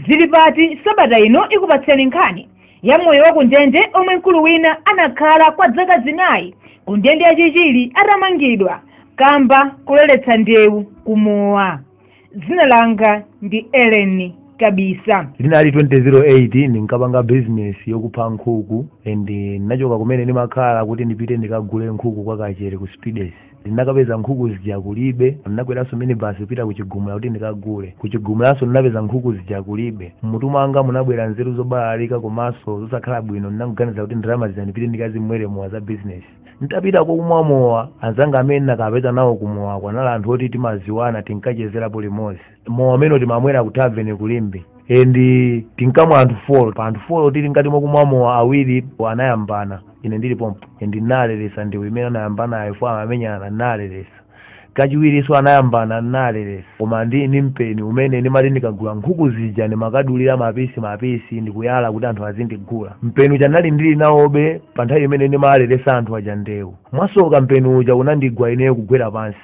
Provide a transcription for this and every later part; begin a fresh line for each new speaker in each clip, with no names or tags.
zili pati sabata ino ikupatseni nkhani ya moyo wa ku ndende omwe mkulu wina anakhala kwa dzaka zinayi ku ndende ya chichiri atamangidwa kamba koleretsa ndewu kumowa dzina langa ndi ellen kabisa linali 2008 ndinkapanga business yokupha nkhuku and ndinachoka kumene ndimakhala kuti ndipite ndikagule nkhuku kwa kachere ku speeders ndinakapeza nkhuku zija kulibe ndinakweranso minibasi kupita kuchigumula kuti ndikagule kuchigumulanso ndinapeza nkhuku zija kulibe mmutu mwanga munabwera nzeru zobalalika komanso zosakhala bwino ndinangoganiza kuti ndalama zija ndipite ndikazimwere mowa za bizinesi nditapita kokumwa mowa anzanga amene ndinakapeza nawo kumowa kwanali anthu oti timadziwana tinkachezerapo limodzi mowa umene timamwera ku taveni ku Limbe and tinkamwa anthu folo pa anthu folo tili ngati mokumwa mowa awiri anayambana ine ndili pompo and ndinaleresa ndewu imene anayambanayo fo amamenyana ndinaleresa kachiwirinso anayambana ndinaleresa koma ndili ndi mpeni umene ndimati ndikagula nkhuku zija ndimakadulira mapisi mapisi ndikuyala kuti anthu azindigula mpeni uja ndinali ndili nawobe pa nthawi imene ndimaleresa anthu aja ndewu mwasoka mpeni uja unandigwa ineyo kugwera pansi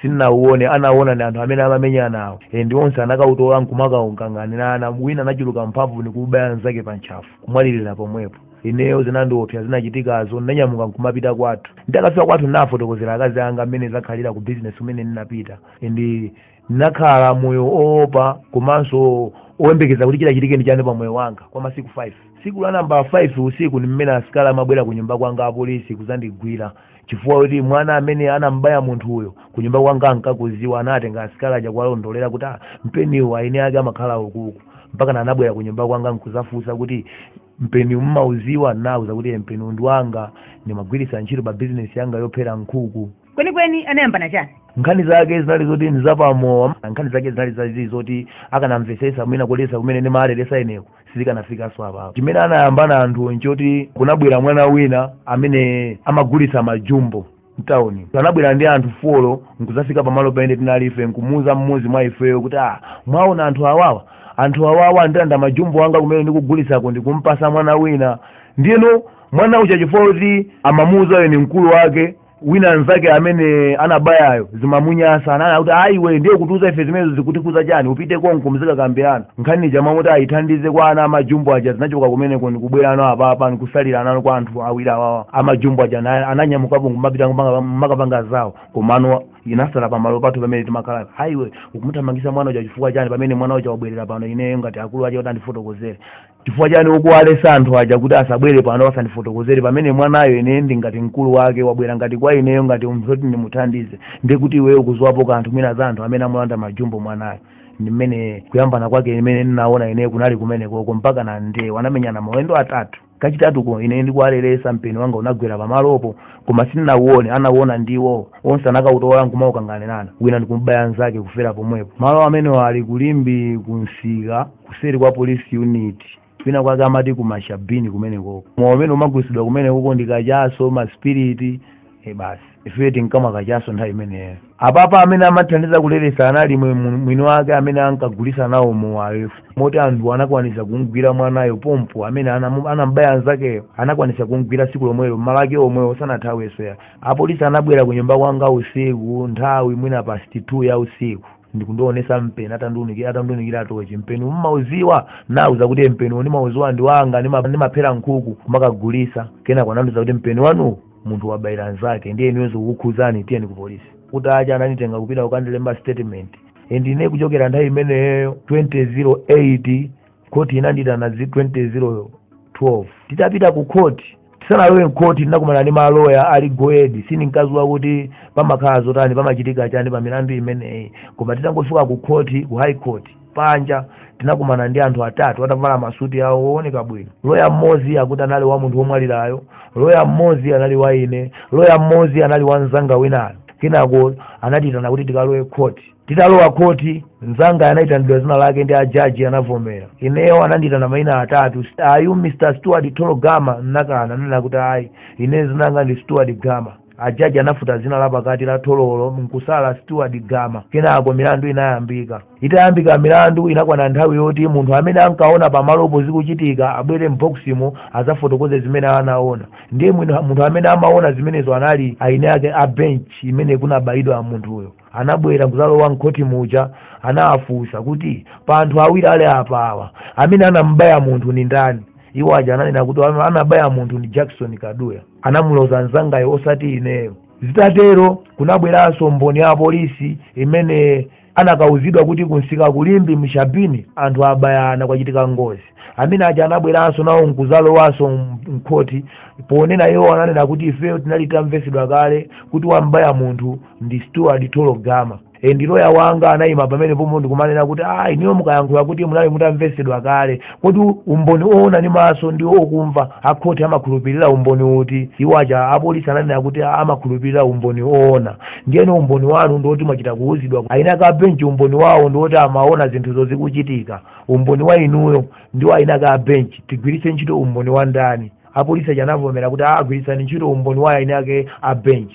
sinnauone anaona ndi anthu amene amamenyanawo and onse anakautola nkumakaukanganirana wina anachuluka mphamvu nkubaya mnzake pa ntchafu kumwalirira pomwepo ineyo zinandiopsa zinachitikazo ndinanyamuka nkumapita kwathu nditakafika kwathu ndinafotokozera akazi anga mmene zakhalira ku bizinesi kumene ndinapita and ndinakhala moyo oopa komanso oyembekeza kuti chitachitike ndi chani pa moyo wanga kwa masiku 5 tsiku la namba 5 usiku ndi mmene asikali amabwera ku nyumba kwanga apolisi kuzandigwira chifukwa kuti mwana amene anambaya munthu uyo kunyumba kwanga ankakuziwa anatenga asikali aja kuwalondolera kuti ah, mpeniwo eni ake amakhala ukuku mpakana anabwera kunyumba kwanga nkuzafunsa kuti mpeniwu mmauziwa nauza kuti "Eh, mpeniwu ndi wanga ndimagwiritsa ntchito pa bizinesi yanga yophera nkhuku kwenikweni anayambana chani nkhani zake zinali zoti nzapamowa nkhani zake zinali zazi zoti akanamvesesa mwina kulesa kumene ndimaleresa ineko sizikanafikanso apapo chimene anayambana anthuwo nchoti kunabwera mwana wina amene amagulitsa majumbo mtawuni anabwera ndi anthu folo nkuzafika pamalo pamene tinali ife nkumuuza mmodzi mwa ifeyo kuti ah mwaona anthu awawa anthu awawa andilanda majumbo anga kumene ndikugulitsako ndikumpasa mwana wina ndiyeno mwana uja chifukwa kuti amamuuzayo ndi mkulu wake wina mnzake amene anabayayo zimamunyasa ananena kuti ah iwe ndiye kutiuza ife zimenezo zikutikhuza chani upite konko muzikakambirana nkhani ija mmalo moti ayithandize kwa ana amajumbo aja zinachoka kumeneko ndikubwera ano apapa ndikusalira anano kwa anthu awiri awawa amajumbo aja ana- ananyamukapo kumapita kumanga- mmakapanga zawo komano inasala pamalo pathu pamene timakhala ah iwe ukumuthamangisa mwana uja chifukwa chani pamene mwana uja wabwerera pano ineyo ngati mkulu wake kuti andifotokozere chifukwa chani ukuwaleresa anthu aja kuti asabwere pano asandifotokozere pamene mwanayo ine ndi ngati mkulu wake wabwera ngati kwa ineyo ngati munthu oti ndimuthandize ndi kuti iweyo ukuziwapo kanthu mwina za anthu amene amulanda majumbo mwanayo ndi mmene kuyambana kwake imene ndinaona ineyo kunali kumenekoko mpaka na ndewa anamenyana mawendo atatu kachitatuko ine ndikuwaleresa mpeni wanga unagwera pamalopo koma sindinauone anauona ndiwo onse anakautola nkumaukanganirana wina nkumubaya nzake kufera pomwepo malo amenewo ali kulimbi kunsika kuseri kwa police unit kwina kwake amati kumashabini kumenekoko mowa umene umagulisidwa kumenekoko ndi kachaso masipiriti e basi ife tinkamwa kachaso nthawi imeneyo apapa amene amathandiza kuleresa anali mwe- mu- mwini wake amene ankagulisa nawo mowayo moti anthu anakwanisa kumgwira mwanayo pompo amene anamu- anambaya anzakeyo anakwanisa kumgwira tsiku lomwelo malake omwewo sanathaweso apolisi anabwera ku nyumba kwanga usiku nthawi mwina past 2 ya usiku ndikundionesa mpeni atandiunikira atandiunikira tochi mpeniwu mumauziwa nawauza kuti mpeni uwo ndimauziwa ndi wanga ndima- ndimaphera nkhuku nkumakagulisa kenako anandiuza kuti mpeni wanuwu munthu wabayira nzake ndiye inuyo zikukukhuzani tiyeni ku polisi kutacha ananditenga kupita kukandilemba statement ndiye kuchokera nthawi imeneyo 2008 khoti inanditana 2012 titapita ku khoti tisanalowe mkhoti tinakumana ndi maloya ali goedi sindinkaziwa kuti pamakhala zotani pamachitika chani pa milandu imeneyi koma titangofika ku khoti ku high court panja tinakumana ndi anthu atatu atavala masuti awo wooneka bwino loya mmodzi akuti anali wa munthu womwalirayo loya mmodzi anali wa ine loya mmodzi anali wa mzanga winayo kenako anatitana kuti tikalowe mkhoti titalowa mkhoti mzangayo anayitanidwa zina lake ndi ajaji anavomera ineyo anandiyitana mayina atatu ayu mr steward tolo gama nnakana nena kuti ayi ine zina langa ndi steward gama ajaji anafuta zina la pakati la Tololo nkusala steward gama kenako milandu inayambika itayambika milandu inakwana nthawi yoti munthu amene ankaona pamalopo zikuchitika abwere m'boximo azafotokoze zimene anaona ndiye mwino- munthu amene amaona zimenezo anali eni ake a bench imene kunabayidwa munthuyo anabwera nkuzalowa mkhoti muja anawafunsa kuti pa anthu awiri ali apa awa amene anamubaya munthu ndi ndani iwo aja ananena kuti "Wa- anabaya munthu ni jackson kaduya anamuloza mzangayo osati ineyo zitatero kunabweranso mboni ya polisi imene anakauzidwa kuti kunsika kulimbi mshabini anthu abayana kwachitika ngozi amenewo aja anabweranso nawo nkuzalowanso mkhoti ponena iwo ananena kuti ifeyo tinali tamvesedwa kale kuti wambaya munthu ndi steward tolo gama ndiye loya wanga anayima pamenepo pomwe ndikumanena kuti ayi inuyo mukayankhula kuti munali mutamvesedwa kale kodi umboni owona ndi maso ndi okumva akhoti amakhulupirira umboni uti iwo aja apolisi ananena kuti amakhulupirira umboni owona ndiyeno umboni wanu ndiwoti mwachita kuwuzidwa eni ake a benchi umboni wawo ndiwoti amaona zinthuzo zikuchitika umboni wa inuyo ndi wa ina ake a bench tigwiritse ntchito umboni wa ndani apolisi aja anavomera kuti agwiritsani ntchito umboni wa ina ake a bench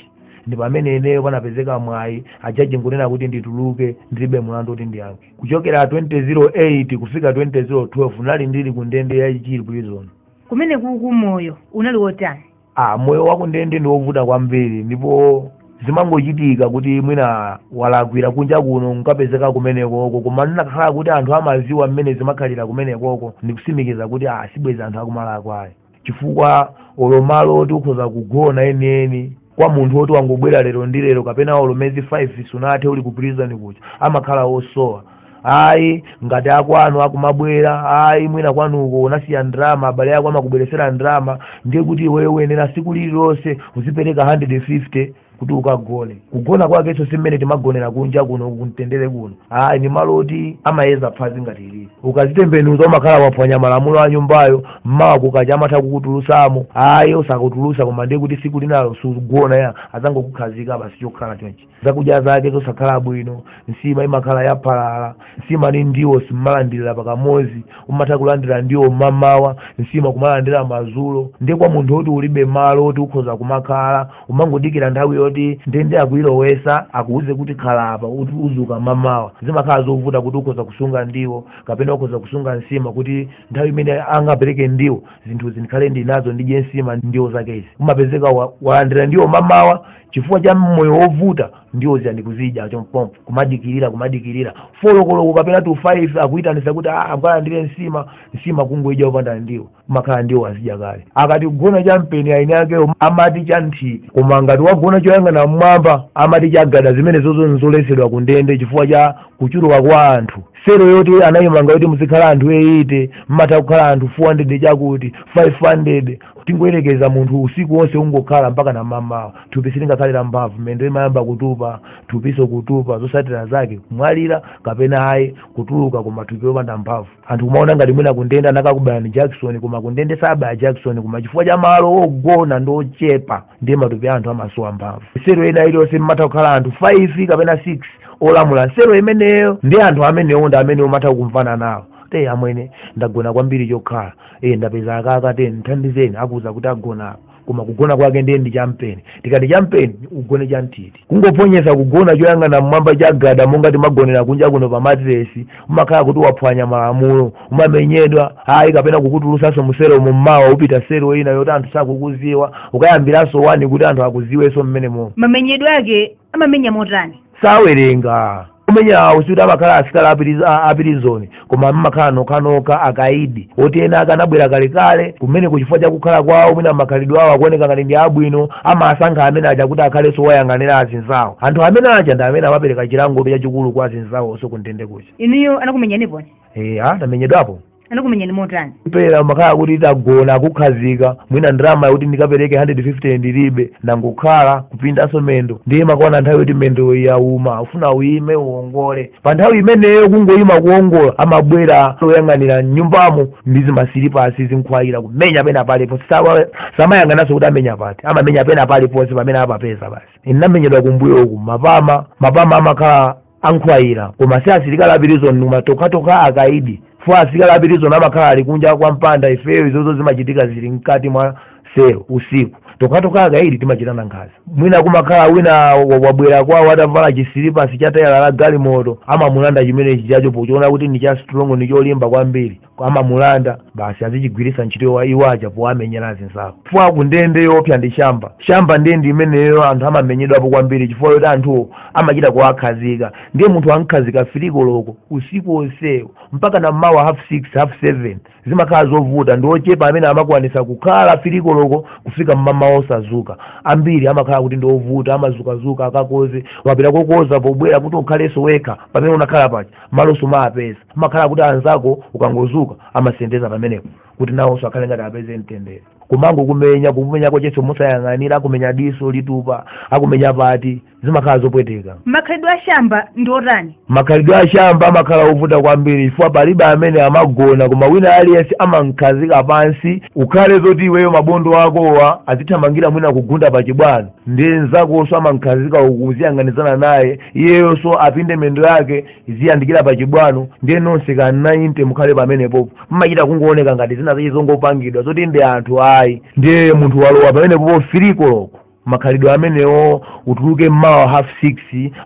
ndi pamene ineyo panapezeka mwayi ajaji nkunena kuti ndituluke ndilibe mulandu kuti ndiyankhe kuchokera 2008 kufika 2012 nali ndili ku ndende ya chichiri prison kumene kuku moyo unali wotani ah, moyo wakundende ndi wovuta kwambiri ndipo zimangochitika kuti mwina walakwira kunja kuno nkapezeka kumenekoko koma inakhala kuti anthu amaziwa mmene zimakhalira kumenekoko ndikusimikiza kuti ah, sibwezi anthu akumalakwa ayi chifukwa olo malo oti ukhoza kugona enieni kwa munthu woti wangobwera lero ndi lero kapena olo mezi 5 sunathe uli ku prison kucha amakhala osowa ayi ngati akwanu akumabwera ayi mwina kwanuko unasiya ndrama abale ako amakubweresera ndrama ndiye kuti iweyo uyenera siku lililonse uzipereka 150 kuti ukagone kugona kwakenso si mmene timagonera kunja kuno kumtendere kuno ayi ndi malo oti amayeza phazi ngati ili ukazitembenuza umakhala waphwanya malamulo a nyumbayo mmawa kukacha amatha kukutulusamo ayi osakutulusa koma ndiye kuti siku linalo sugona ya azangokukhazika basi chokhala chonchi zakudya zake zosakhala bwino nsima imakhala yaphalala nsima ni ndiwo simmalandirira pakamozi umatha kulandira ndiwo mmamawa nsima kumalandira mazulo ndiye kwa munthu woti ulibe malo woti ukhoza kumakhala umangodikira nthawi yoti ndende akuyilowesa akuuze kuti khala apa kuti uzuka mamawa zimakhala zovuta kuti ukhoza kusunga ndiwo kapena ukhoza kusunga nsima kuti nthawi imene angapereke ndiwo zinthu zikhale ndinazo ndidye nsima ndiwo zakezi umapezeka wa- walandira ndiwo mamawa chifukwa cha moyo wovuta ndiwo zija nkuzidya chompompo kumadikirira kumadikirira folokoloko kapena tu 5 akuyitanisa kuti "Ah, akukalandira nsima nsima kungoidya kupanda ndiwo kumakhala ndiwo wazidya kale akati kugona cha mpeni eni akewo amati cha nthiti koma ngati wagona choyang'ana mmwamba amati chagada zimenezozo nzoletsedwa ku ndende chifukwa cha kuchuluka kwa anthu sero yoti anayimanga yoti muzikhala anthu 80 mmatha kukhala anthu 400 chakuti 500 tingoyerekeza munthu usiku wonse ungokhala mpaka mmamawa thupi silingakhale la mphamvu mendo imayamba kutupa thupiso kutupa zosatira zake kumwalira kapena ayi kutuluka koma thupi lopanda mphamvu anthu kumaona ngati mwina kundende anakakubayani jakisoni koma kundende sabaya jakisoni koma chifukwa cha malo ogona ndi ochepa ndiye matupi a anthu amasowa mphamvu sero ena iliyonse mmatha kukhala anthu 5 kapena 6 olamula sero imeneyo ndi anthu amenewo ndi amene umatha kumvana nawo eh amwene ndagona kwambiri chokhala iye ndapeza aka katen mthandizeni akuuza kuti ugona apa koma kugona kwake ndiye ndi champeni tikati champeni ugone chanthiti kungophonyesa kugona choyang'ana mmwamba chagada monga timagonera kunja kuno pa matiresi umakhala kuti waphwanya malamulo umamenyedwa ayi kapena kukutulusanso musero mummawa upita sero ina yoti anthu sakukuziwa ukayambiranso wani kuti anthu akuziwenso mmene momo mamenyedwe ake amamenya motani sawerenga kumenya kwawo sikuti amakhala asilikali apiriz- a- apirizoni koma amakhala nokhanokha akaidi oti ena ake anabwera kalekale kumene kuja chifukwa cha kukhala kwawo mwina makhalidwe awo akuoneka ngati ndi abwino amasankha amene aja kuti akhalenso woyang'anira azinzawo anthu amene aja ndi amene amapereka chilango chachikulu kwa azinzawo onse kundende kuja inuyo anakumenyaniponi eya ndinamenyedwapo anakumenyani motani pena amakhala kuti utagona akukhazika mwina ndalama yakuti ndikapereke 150 ndilibe ndangokhala kupindanso mendo ndiye imakwana nthawi yoti mendo yauma ufuna uyime uongole pa nthawi imeneyo kungoyima kuongola amabwera oyang'anira mnyumbamo ndi zimasilipasi zinkhwaira kumenya pena paliponse Sawa- samayang'ananso kuti amenya pati amamenya pena paliponse pamene apapeza basi ndinamenyedwa kumbuyoku mapama mapama amakhala ankhwaira koma si asilikali apirizoni koma tokhatokha akaidi fo asilikali apirizoni amakhala ali kunja kwa mpanda ifeyo izozo zimachitika zili mkati mwa selo usiku tokhatokha akaidi timachitana nkhaza mwina kumakhala wina wa- wabwera kwawo atavala chisilipasi cha tayala la galimoto amamulanda chimene chijacho pochiona kuti ndi cha strong ndi cholimba kwambiri amamulanda basi azichigwiritsa ntchito iwo aja powamenyera azinzawo chifukwa ku ndende choopsa ndi shamba shamba ndiye ndi imeneyo anthu amamenyedwapo kwambiri chifukwa yoti anthuwo amachita kuwakhazika ndiye munthu amkhazika firiko loko usiku onsewo mpaka na mmawa half six half seven zimakhala zovuta ndi ochepa amene amakwanisa kukhala firiko loko kufika mmawa osazuka ambiri amakhala kuti ndi ovuta amazukazuka akakoze wapita kokoza pobwera kuti ukhalenso wekha pamene unakhala paja malo sumawapeza kumakhala kuti anzako ukangozuka amasendeza pamenepo kuti nawonso akhale ngati apeze mtendere kumangokumenya kukumenya kwachenso mosayang'anira akumenya diso litupa akumenya pati zimakhala zopweteka makhalidwe a shamba ndi otani makhalidwe a shamba amakhala ovuta kwambiri chifukwa palibe amene amagona koma wina aliyense amamkhazika pansi ukhale zoti iweyo mabondo akowa azithamangira mwina kugunda pa chibwano ndiye nzakonso amamkhazika ukuziyang'anizana naye iyeyonso apinde mendo yake iziyandikira pa chibwano ndiye nonse ka 90 mukhale pamenepopo mmachita kungooneka ngati zinazake zongopangidwa zoti ndi anthu ayi ndiye munthu walowa pamenepopo firiko loko makhalidwe amenewo utuluke mmawa half six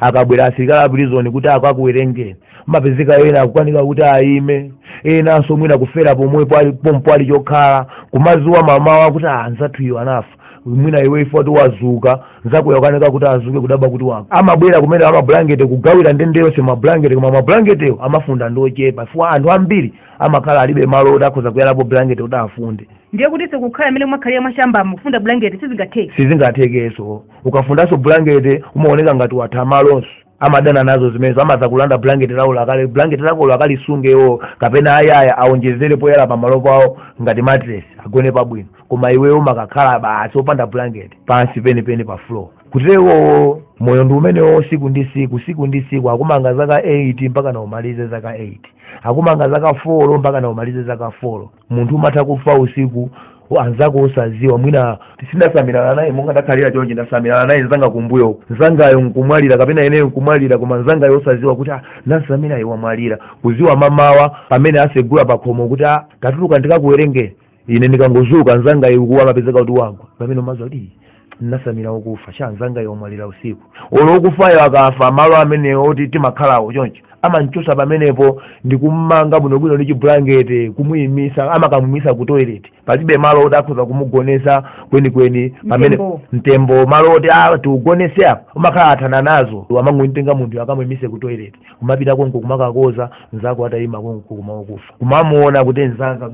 akabwera asilikali apirizoni kuti akakuwerengeni amapezeka ena akukanika kuti ayime enanso mwina kufera pomwepo pompo ali chokhala kumaziwa mamawa kuti anzathu uyu anafa mwina iwe ife wati wazuka nzako uja akukanika kuti azuke kudabwa kuti wafa amabwera kumene amabulangete kugawira ndende yonse mabulangete koma mabulangetewo amafunda ndi ochepa chifukwa anthu ambiri amakhala alibe malo oti akhoza kuyalapo bulangete kuti afunde ndiye kuti kukhala mmene mwakhalira mwashambamo kufunda bulangeti sizingatheke sizingathekenso ukafundanso bulangete umaoneka ngati watha malonso amadana nazo zimenezo amatha kulanda blanket lako lakale blanket lako lakalisunge iwo kapena ayaya awonjezere poyala pamalo pawo ngati matres agone pabwino koma iweyo umakakhala basi opanda blanket pansi penipeni pa floor kutero moyo ndi umenewo siku ndi siku siku ndi siku akumanga zaka 8 mpaka naumalize zaka 8 akumanga zaka 4 mpaka naumalize zaka 4 munthu umatha kufa usiku anzako osaziwa mwina ndasamirana naye monga ndakhalira chonchi ndasamirana naye nzanga kumbuyo nzangayo nkumwalira kapena ineyo nkumwalira koma nzangayo osaziwa kuti ah, mnzanga uja wamwalira kuziwa mamawa pamene asegula pakhomo kuti ah, tatuluka tikakuwerengeni ine ndikangozuka nzangayo kugwa amapezeka kuti wagwa pamene umaziwa kuti "Ii, ndinatsamira wokufa chani nzangayo wamwalira usiku olo wokufayo akafa malo amenewo oti timakhalawo choncho amanchosa pamenepo ndikumanga bwinobwino ndi chibulangete kumuyimisa amakamumisa ku toilet palibe malo oti akhoza kumugonesa kwenikweni pamene Mtembo. mtembo malo oti ah, tiugonese apa umakhala athana nazo amangomtenga munthu akamuyimise ku toilet kumapita konko kumakakoza nzako atayima konko koma wokufa kumamuona kuti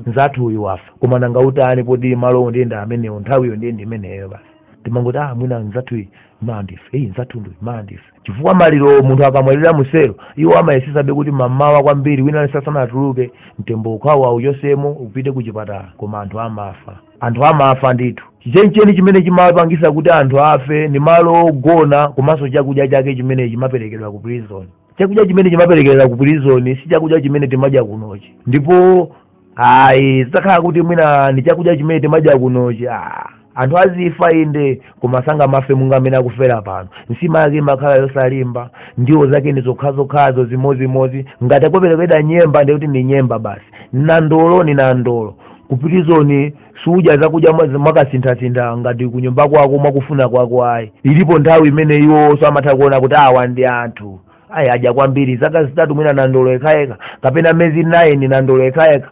nzathu uyu wafa koma nanga utani poti malowo ndiye ndi amenewo nthawiyo ndiye ndi imeneyo basi timangoti ah mwina nzathu iyi mandife iyi nzathu ndi mandife chifukwa maliro munthu akamwalira mu cell iwo amayesesabe kuti mamawa kwambiri wina aliyense asanatuluke mtembo ukhale auchosemo upite ku chipatala koma anthu amafa anthu amafa ndithu chenicheni chimene chimapangisa kuti anthu afe ndi malo ogona komanso chakudya chake chimene chimaperekedwa ku prison chakudya chimene chimaperekedwa ku prison si chakudya chimene timadya kunochi ndipo ayi zitakhala kuti mwina ndi chakudya chimene timadya kunochi ah, anthu azifa inde koma sangamafe monga mmene akufera pano nsima yake imakhala yosalimba ndiwo zake ndi zokhazokhazo zimozimozi ngati akuperekedwa nyemba ndekuti ndi nyemba basi nandolo ni nandolo ku prison sudya zakudya mwa- mwakasinthasintha ngati kunyumba kwako mwakufuna kwako ayi ilipo nthawi imene iwonso amatha kuona kuti awa ndi anthu ayi adya kwambiri zaka zitatu mwina nandolo yekhayekha kapena mezi 9 nandolo yekhayekha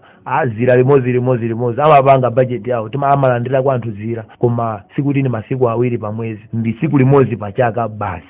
dzira limodzi limodzi limodzi amapanga bajeti yawo tima amalandira kuti anthu zira koma sikuti ni masiku awiri pa mwezi ndi tsiku limodzi pa chaka basi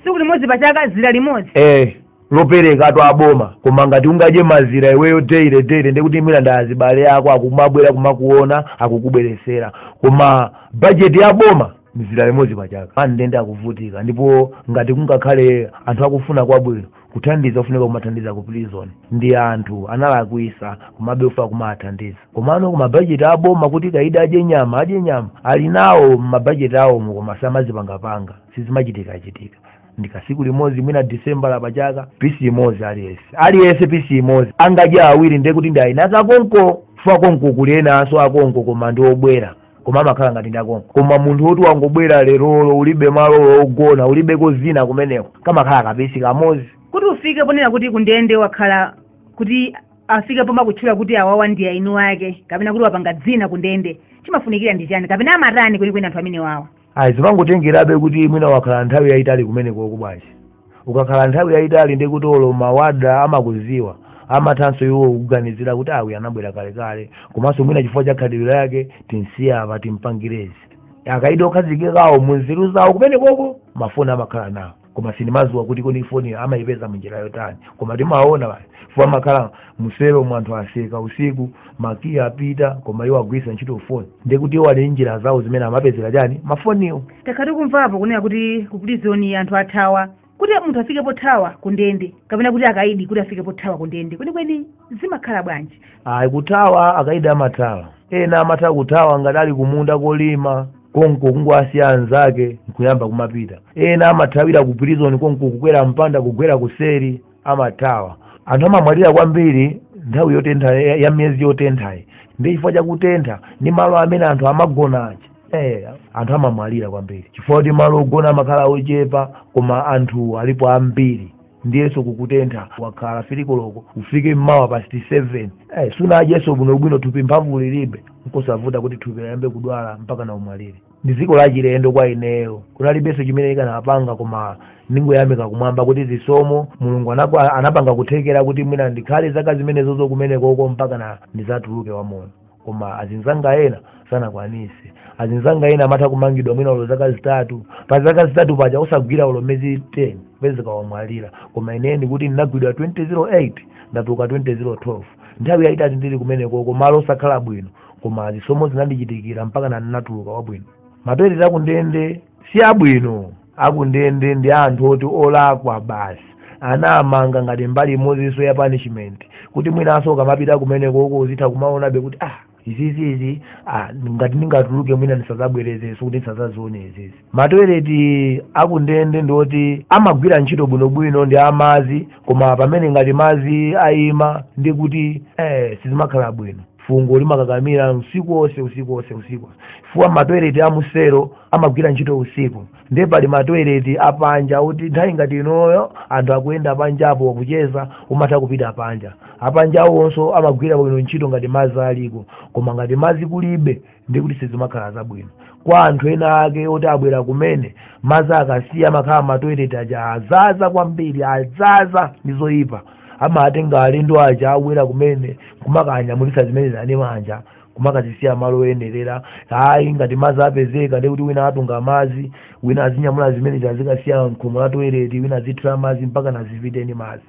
tsiku limodzi pa chaka zira limodzi eh lopereka tu aboma koma ngati ungadye mazira iweyo daily daily ndekuti mwina ndi azibale ako akumabwera kumakuona akukubweresera koma bajeti ya boma ni zira limodzi pa chaka pa ndende akuvutika ndipo ngati kungakhale anthu akufuna kwabwino kuthandiza kufunika kumathandiza ku prison ndi anthu analakwisa komabe kufunika kumathandiza komano ku mabajeti aboma kuti kaida adye nyama adye nyama ali nawo mabajeti awo koma samazipangapanga sizimachitikachitika ndikasiku limodzi mwina disembala pachaka pisi imodzi aliyese aliyese pisi imodzi angadye awiri ndekuti ndi aina akonko chifukwa konko kuli enanso akonko koma ndi obwera koma amakhala ngati ndakonko koma munthu woti wangobwera lerolo ulibe malo ogona ulibeko zina kumeneko kamakhala kapeti kamozi kuti ufike ponena kuti kundende wakhala kuti afike poma kutchula kuti awawa ndi eniake kapena kuti wapanga dzina kundende chimafunikira ndi chani kapena amatani kwenikweni anthu amene wawa ayi zimangotengerabe kuti mwina ukakhala nthawi yayitali kumenekoko basi ukakhala nthawi yayitali ndi kuti olo mawada amakuziwa amathanso iwo kuganizira kuti awi anabwera kalekale komanso mwina chifukwa cha khalidwe lake tinsiye apa timpangirezi akaidi okhazikikawo munzeru zawo kumenekoko mafoni amakhala nawo koma sindimaziwa kuti kodi foniyo amayipeza munjira yotani koma timaona mafoni amakhala muselo mu anthu atseka usiku makiyi apita koma iwo agwiritsa ntchito foni ndiye kuti iwo ali njira zawo zimene amapezera chani mafoniwo takhala tikumvapo kunena kuti ku pulizoni anthu athawa kuti munthu afike pothawa ku ndende kapena kuti akaidi kuti afike pothawa ku ndende kwenikweni zimakhala bwanji ayi kuthawa akaidi amathawa ena amatha kuthawa ngati ali kumunda kolima konko kungowasiya anzake nkuyamba kumapita ena amathawira ku prison konko kukwera mpanda kugwera kuseri amathawa anthu amamwalira kwambiri nthawi yotentha ya- ya miyezi yotenthayi ndi chifukwa chakutentha ndi malo amene anthu amagona aja Eh, anthu amamwalira kwambiri chifukwa kuti malo ogona amakhala ochepa koma anthu alipo ambiri ndiyenso kukutentha wakhala filikoloko ufike mmawa past 7 eh, sunadyenso bwinobwino thupi mphamvu ulibe nkosavuta kuti thupi liyambe kudwala mpaka na umwalire ndi dziko lachilendo kwa ineyo kunalibenso chimene nkanapanga koma ndingoyamika kumwamba kuti chisomo mulungu anakwa- anapanga kuthekera kuti mwina ndikhale zaka zimenezozo kumenekoko mpaka na ndizatuluke wamoyo koma azinzanga ena sanakwanise azinzanga ena amatha kumangidwa mwina ulo zaka zitatu pa zaka zitatu paja osagwira ulo mezi 10 kupezeka wamwalira koma ineyi ndikuti ndinagwidwa 2008 ndatuluka 2012 nthawi yayitali ndili kumenekoko malo osakhala bwino koma zisomo zinandichitikira mpaka na ndinatuluka wabwino matoileti akundende si abwino akundende ndi anthu oti olakwa basi ndiye anamanga ngati mbali imozinso ya punishment kuti mwinanso ukamapita kumeneko uko uzitha kumaonabe kuti ah izizizi ah, ngati ndingatuluke mwina ndisazabwerezenso kuti ndisazazione izizi matoileti akundende ndi oti amagwira ntchito bwinobwino ndi mazi koma pamene ngati mazi ayima ndi kuti eh, sizimakhala bwino fungo limakakamira usiku wonse usiku wonse usiku chifukwa matoileti a musero amagwira ntchito usiku ndiye pali matoileti apanja kuti nthawi ngati inoyo anthu akuyenda panjapo kucheza umatha kupita panja apanja awonso amagwira bwino ntchito ngati madzi aliko koma ngati madzi kulibe ndi kuti sizimakhala zabwino kwa anthu ena ake oti abwera kumene madzi akasiya amakhala matoilet aja adzadza kwambiri adzadza ndi zoyipa amatenga alendo aja abwera kumene kumakawanyamulitsa zimene zija ndi manja kumakazisiya malo oyenerera ayi ngati madzi apezeka ndi kuti wina atunga madzi wina azinyamula zimene zazikasiya mkhomo la toilet wina azithirira madzi mpaka nazipiteni madzi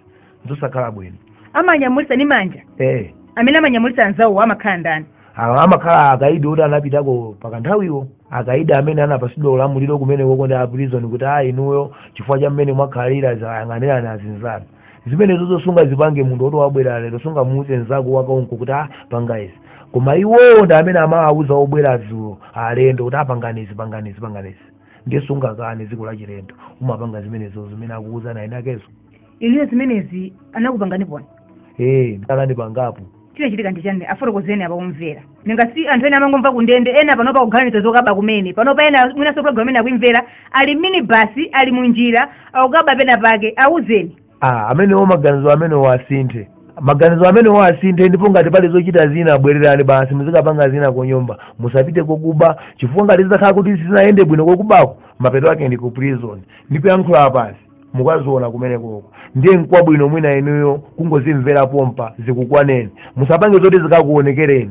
zosakhala bwino amanyamulitsa ndi manja eh amene amanyamulitsa anzawo amakhala ndani awa amakhala akaidi oti anapitako pakanthawiwo akaidi amene anapatsidwa ulamuliro kumenekoko ndi aprison kuti a inuyo chifukwa cha mmene mwakhalira muziyang'anira azinzanu zimenezo zo sungazipange munthu oti wabwera lero sungamuuze nzako wakaunko kuti a panga izi koma iwowo ndi amene amawauza obwera dzulo alendo kuti a pangani izi pangani izi pangani izi ndiye sungakane dziko lachilendo umapanga zimenezo zimene akuuza eni akezo inuyo zimenezi anakupanganiponi ee anandipangapo chinachitika ndi chani tafotokozani apa akumvera nanga si anthu ena amangomva kundende ena panopa akuganiza zokaba kumene panopa ena mwinanso programu ena akuimvera ali mu minibasi ali munjira akukaba pena pake awuzeni ah amenewo maganizo amenewo asinthe maganizo amenewo asinthe ndipo ngati pali zochita zina bwererani basi muzikapanga zina kunyumba musapite kokuba chifukwa ngati zitakhala kuti sizinayende bwino kokubako mapeto ake ndi ku prison ndikuyankhula pasi mukaziona kumenekoko ndiye nkwabwino mwina inuyo kungozimvera pompa zikukwaneni musapange zoti zikakuonekereni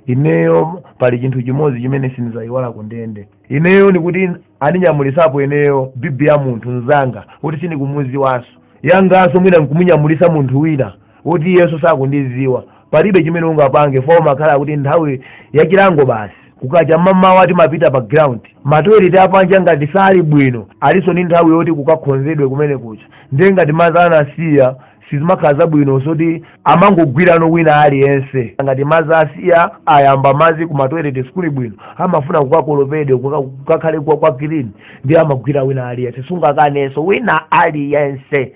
ineyo pali chinthu chimodzi chimene sindizayiwala kundende ineyo ndikuti anandinyamulisapo ineyo bibi ya munthu mzanga woti sindikumuziwanso yanganso mwina nkumunyamulisa munthu wina woti iyenso sakundiziwa palibe chimene ungapange fuwa amakhala kuti nthawi yachilango basi kukacha mamawa timapita pa ground matoilet apanja ngati sali bwino alinso ndi nthawi yoti kukakhonzedwe kumene kucha ndiye ngati madzi anasiya sizimakhala zabwino moti amangogwirano wina aliyense ngati madzi asiya ayamba madzi ku matoilet sikuli bwino amafuna kukakolopedwe kuka- kukakhale kwa kwa clean ndiye amagwira wina aliyense sungakanenso wina aliyense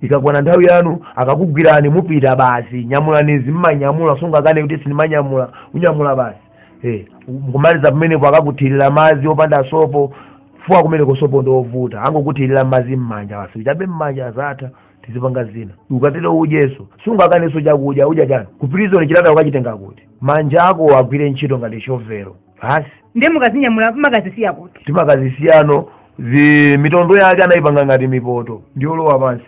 ikakwana nthawi yanu akakugwirani mupita basi nyamulani izi mmanyamula sungakane kuti sindimanyamula unyamula basi eh, kumaliza pamenepo akakuthirira madzi opanda sopo fuwa kumeneko sopo ndi wovuta angokuthirira madzi mmanja basi uchabe mmanja azatha uzipanga zina ukatero udyenso sungakanenso chakudya udya chani ku prison chitatha ukachitenge kuti manja ako agwire ntchito ngati chovero basi ndiye mukazinyamula mmakazisiya kuti timakazisiyano m'zi mitondo yake anayipanga ngati mipoto ndiyolowa pansi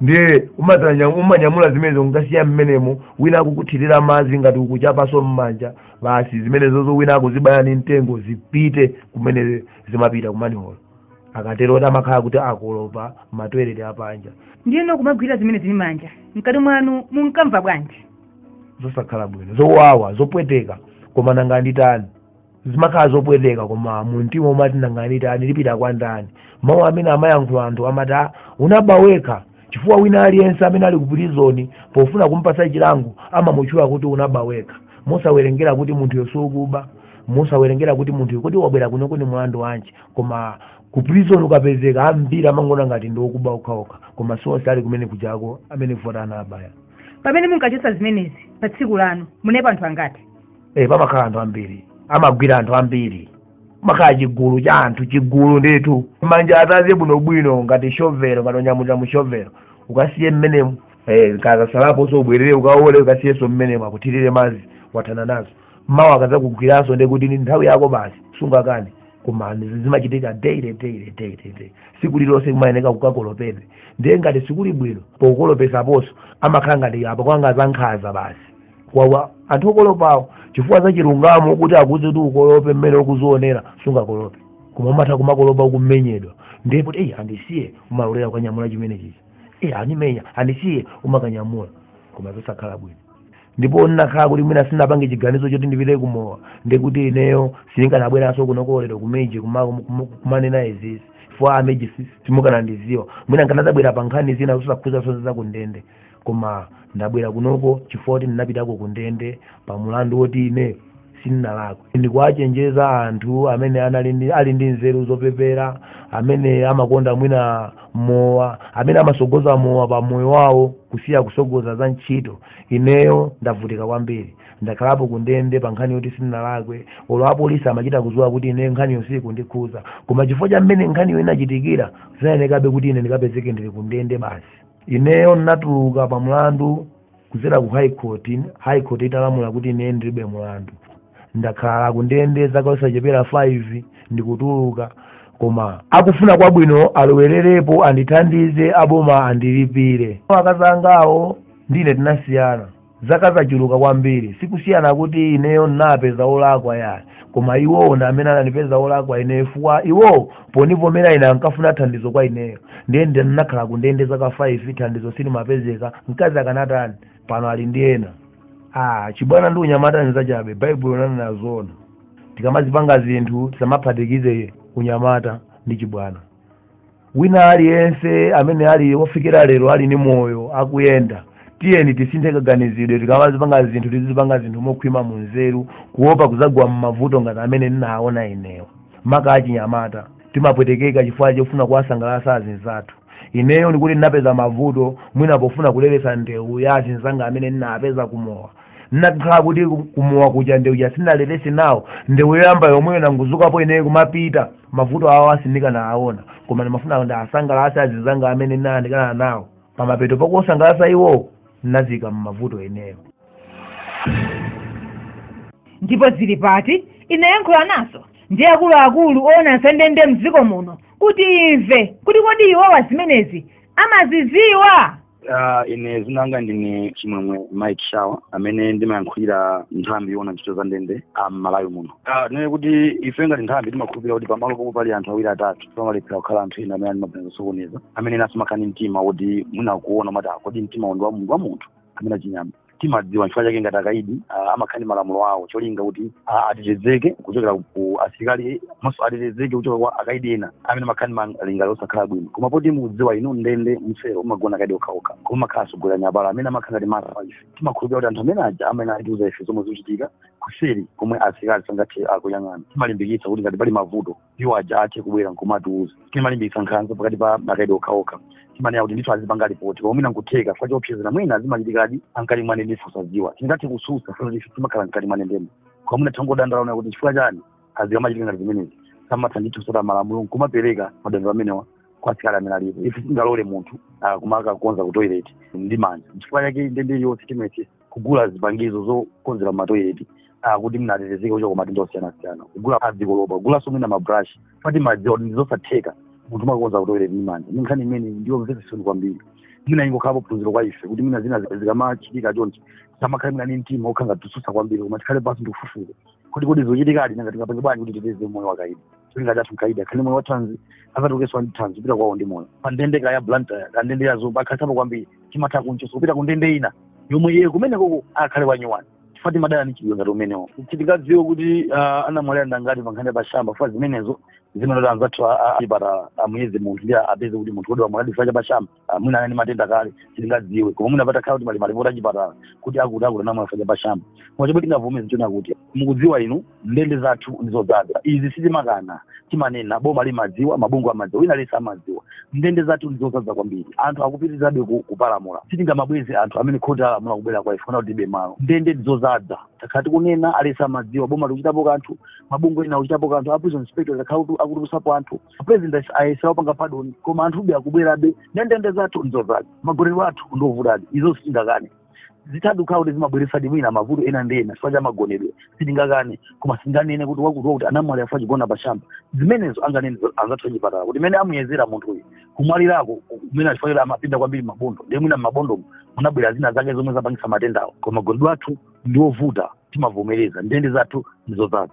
ndiye umadzanya- umanyamula zimenezo nkasiya mmenemo wina akukuthirira madzi ngati ukuchapanso mmanja basi zimenezozo wina akuzibaya ni mtengo zipite kumene zimapita ku manhole akatero ndi amakhala kuti akolopa matoilet apanja ndiyeno kumagwira zimenezi ndi manja mkati mwanu munkamva bwanji zosakhala bwino zowawa zopweteka koma nanga nditani zimakhala zopweteka koma mumtima umati nanga nditani ndipita kwa ndani mawu amene amayankhula anthu amati "Ah, unaba wekha chifukwa wina aliyense amene ali ku prizoni pofuna kumpatsa chilango amamutchula kuti unaba wekha mosawerengera kuti munthuyo si wokuba mosawerengera kuti munthu kuti wabwera kuno ndi mlandu wanji koma ku prison ukapezeka ambiri amangoona ngati ndi okuba okhaokha koma sionse ali kumene kujako amene vota anabaya pamene munkachotsa zimenezi pa tsiku lanu munalipo anthu angati eh pamakhala anthu ambiri amagwira anthu ambiri makhala chigulu cha anthu chigulu ndithu manja ataze bwinobwino ngati shovelo ngati onyamula mu shovelo ukasiye mmenemo eh kakatsalaponso ubwerere ukaole ukasiyenso mmenemo akuthirire madzi wathana nazo mawa akazakugwiranso ndi kuti ndi nthawi yako basi sungakane koma ndi- zimachitika daily daily daily daily siku lilonse kumayeneka kukakolopedwa ndiye ngati sikuli bwino pokolopesaponso amakhala ngati apanga zankhaza basi kwa anthu okolopawo chifukwa za chilungamo kuti akuuze kuti ukolope mmene ukuzionera sungakolope koma umatha kumakolopa ukumenyedwa ndiye kuti eyi andisiye umalolera kukanyamula chimenechichi eyi akundimenya andisiye umakanyamula koma zosakhala bwino ndipo zinakhala kuti mwina sinapange chiganizo choti ndipite kumowa ndikuti ineyo sindikanabweranso kunoko lero ku Meji kuma- kuma- kumanena izizi a Meji simukanandidziwa mwina nkanadzabwera pa nkhani zina zosakhuza zonse za kundende koma ndabwera kunoko chifukwa kuti ndinapitako kundende pa mulandu woti ine sindinalakwe ndikuwachenjeza anthu amene anali ndi ali ndi nzeru zopepera amene amakonda mwina mowa amene amasogoza mowa pa moyo wawo kusiya kusogoza za ntchito ineyo ndavutika kwambiri ndakhalapo kundende pa nkhani yoti sindinalakwe olo apolisi amachita kudziwa kuti ineyo nkhaniyo siikundikhuza koma chifukwa cha mmene nkhaniyo inachitikira zinayenekabe kuti ine ndikapezeke ndili kundende basi ineyo ndinatuluka pa mlandu kudzera ku high court high court inalamula kuti ine ndilibe mlandu ndakhala kundende zaka zosachepera 5 ndikutuluka koma akufuna kwabwino alowererepo andithandize aboma andilipire akazi angawo ndi ine tinasiyana zaka zochuluka kwambiri sikusiyana kuti ineyo ndinapeza olakwa ayi koma iwowo ndi amene anandipeza olakwa ineyo chifukwa iwowo ponivomera ine ankafuna thandizo kwa ineyo ndiye ndi ndinakhala kundende zaka 5 thandizo silimapezeka mkazi akanatani pano ali ndi ena ah chibwana ndi unyamata ni zachabe baibulo linanena zona tikamazipanga zinthu tisamaphatikize unyamata ndi chibwana wina aliyense amene ali wofikira lero ali ndi moyo akuyenda tiyeni tisinthe kaganizidwe tikamazipanga zinthu tizipanga zinthu mokhwima mu nzeru kuopa kuzagwa m'mavuto ngati amene ndinaona ineyo maka achinyamata timapwetekeka chifukwa chofuna kuwasangalatsa azinzathu ineyo ndikuti ndinapeza mavuto mwina pofuna kuleletsa ndewu ya azinzanga amene ndinapeza kumowa nakhala kuti ku- kumowa kuja ndewu ja sinalerese nawo ndewu yoyamba yomweyo nangozukapo ineyo kumapita mavuto awa sindikanawaona koma ndimafuna ndiwasangalase azinzanga amene ndinayandikana nawo pamapeto pakuosangalasa iwowo ndinaziika mmavuto ineyo ndipo zili pati inayankhulanaso ndi akuluakulu oona za ndende mdziko muno kuti imve kuti kodi iwowa zimenezi amaziziwa Uh, ine zina langa ndine chimwemwe mike shawa amene ndimayankhulira nthambi yoona ntchito za ndende a m'malawi muno uh, tinene kuti ife ngati nthambi timakhulupirira kuti pamalo pomwe pali anthu awiri atatu pamalephera kukhala anthu ena amene ali ndi maganizo osokoneza amene enaso amakhala ndi mtima woti mwina kuona umati ah kodi mtima uwu ndi wa munthu wa munthu kapena wachinyama timadziwa chifukwa chake ngati akaidi ah, amakhala ndi malamulo awo cholinga kuti ah, atetezeke kuchokera ku asilikali komanso atetezeke kuchokera kwa akaidi ena amene amakhala ndi malingaliro osakhala bwino koma poti mukudziwa inu ndende mselo umagona akaidi okhaokha koma mumakhala asogolera nyapala amene amakhala ngati mara ife timakhulupira kuti anthu amene aja amayenera kutiuza ife zomwe zikuchitika kuseri komwe asilikali sangathe kuyang'ana timalimbikitsa kuti ngati pali mavuto iwo aja athe kubwera nkumatiuza sitimalimbikitsa nkhanza pakati pa akaidi okhaokha timanena kuti ndithu azipanga lipoti koma mwina nkutheka chifukwa choopsezana mwina zimachitikadi nkati mwa ndende ife osaziwa sitingathe kususa izi sitimakhala nkati mwa ndendemo koma mwina tangodandaula kuona kuti chifukwa chani zikamachitika ngati zimenezi samatha ndithu kutsata malamulo nkumapereka madandaulo amenewa kwa asilikali amene alipo ife sitingalole munthu ah, kumakakonza kutoileti ndi manja chifukwa chake ndende yonse timayesesa kugula zipangizo zokonzera matoileti ah, kuti munthu atetezeke kuchokera ku matenda osiyanasiyana kugula zikolopa kugulanso mwina mabrush timadziwa kuti ndi zosatheka munthu kumakonza kutoileti ndi manja ndi nkhani imene ndi yomvetsa chisoni kwambiri mwina ingokhalapo phunziro kwa ife kuti mwina zina zi- zikamachitika chonchi tisamakhale mwina ni mtima okhala ngati kususa kwambiri koma tikhale pansi ndikufufuza kuti kodi zikuchitikadi nanga tingapange bwanji kuti titeteze moyo wa akaidi cholinga chathu mkaidi akhale ndi moyo wathanzi azatulukeso ndi thanzi kupita kwawo ndi moyo pa ndende kaya blantyre kaya ndende ya zomba akakhalisapo kwambiri timatha kunchosa kupita ku ndende ina yomwe iye kumene koko akhale wanyuwani chifukwa timadana ni mchitidwe ngati umenewo sitingadziwe kuti ah, anamwalira ndi angati pa nkhani ya pashamba chifukwa zimenezo zimayenera kuti anzathu a- a- achipatala amuyeze munthu ndi apeze kuti munthu uyudi wamwalira chifukwa cha pashamba ah, mwina anali ndi matenda kale sitingadziwe koma mwina patakhala kuti pali malipoti achipatala kuti akuti akuti anamwalira chifukwa cha pashamba koma chomwe tingavomeze nchonena kuti mukudziwa inu ndende zathu ndizodzaza izi sitimakana timanena boma limadziwa mabungwe amadziwa wina aliyense amadziwa ndende zathu ndizodzaza kwambiri anthu akupitirizabe ku- kupalamula sitingamabweze anthu amene khoti alamula kubwera kwa ife kuti tilibe malo ndende ndizodzaza takhala tikunena aliyense amadziwa boma likuchitapo kanthu mabungwe ena akuchitapo kanthu a prison inspectorate akhala kuti akutulusapo anthu president ayesa kupanga padoni koma anthube akubwerabe nde ndende zathu nzozaza magonedwe athu ndovutadi izo sitingakane zithadi kuti zimabweresadi mwina mavuto ena ndi ena chifukwa cha magonedwe sitingakane koma sitinganene kuti wakuti wakuti anamwalira chifukwa chogona pashamba zimenezo anganene anzathu achipatala kuti mene amuyezera munthu uyu kumwalirako kumene chifukwa choti amapinda kwambiri mabondo ndiye mwina m'mabondomo munabwera zina zake zomwe zapangisa matendawo koma magonedwe athu ndiovuta timavomereza ndende zathu ndizozaza